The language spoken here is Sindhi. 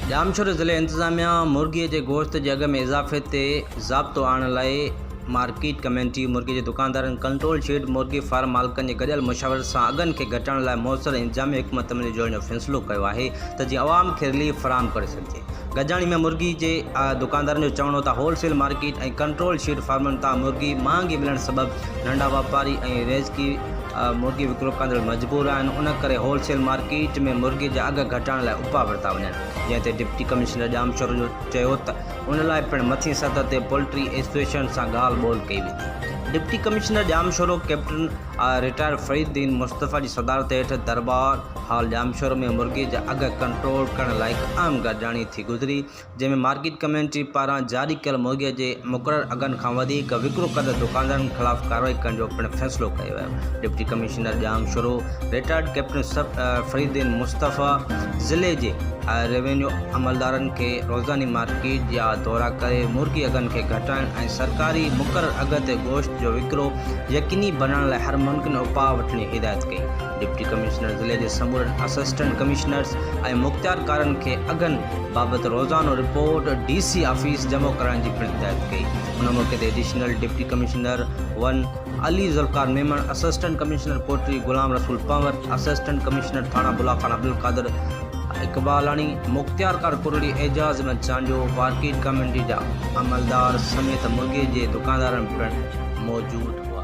ڄامشوري ضلعي انتظاميا مرغي جي گوشت جي اگهه ۾ اضافي تي ضابطو آڻڻ لاء مارڪيٽ ڪميٽي، مرغي جي دڪاندارن، ڪنٽرول شيڊ، مرغي فارم مالڪن جي گڏيل مشاورت سان اگهن کي گهٽائڻ لاء موثر انتظامي حڪمت عملي جوڙڻ جو فيصلو ڪيو آهي ته جيئن عوام کي رليف فراهم ڪري سگهجي. گڏجاڻي ۾ مرغي جي دڪاندارن جو چوڻ هو ته wholesale market ۽ control shed فارمن تان مرغي مهانگي ملڻ سبب ننڍا واپاري ۽ ريزڪي مرغي وڪرو ڪندڙ مجبور آهن ان ڪري هول سيل مارڪيٽ ۾ مرغي جا اگهه گهٽائڻ لاء اپاء ورتا وڃن جنهن تي ڊپٽي ڪمشنر ڄامشورو جو چيو ته ان لاء پڻ مٿين سطح تي پولٽري ايسوسيئيشن سان ڳالهه ٻولهه ڪئي ويندي deputy commissioner Jamshoro captain retired Fariduddin Mustafa جي صدارت هيٺ دربار هال ڄامشورو ۾ مرغي جا اگهه ڪنٽرول ڪرڻ لاء هڪ اهم گڏجاڻي ٿي گذري جنهن ۾ مارڪيٽ ڪميٽي پاران جاري ڪيل مهيا جي مقرر اگهن کان وڌيڪ وڪرو ڪندڙ دڪاندارن خلاف ڪارروائي ڪرڻ جو پڻ فيصلو ڪيو ويو. Deputy commissioner Jamshoro, retired captain سب فريدين مصطفيٰ ضلعي جي روينيو عملدارن کي روزاني مارڪيٽ جا دورا ڪري مرغي اگهن کي گهٽائڻ ۽ سرڪاري مقرر اگهه تي گوشت جو وڪرو يقيني بنائڻ لاء هر ممڪن اپاء وٺڻ جي هدايت ڪئي. ڊپٽي ڪمشنر ضلعي جي سمورن اسسٽنٽ ڪمشنرز ۽ مختيارڪارن کي اگهن بابت روزانو رپورٽ ڊي سي آفيس جمع ڪرائڻ جي پڻ هدايت ڪئي ان موقعي تي additional deputy commissioner one Ali Zulfiqar Memon assistant commissioner پوٽري غلام رسول پنور اسسٽنٽ ڪمشنر ٿاڻا بلا خان عبدالقادر اقبالاڻي مختيارڪار ڪرڙي اعجاز احمد چانڊيو مارڪيٽ ڪاميٽي جا عملدار سميت مرغي جي دڪاندارن پڻ موجود هئا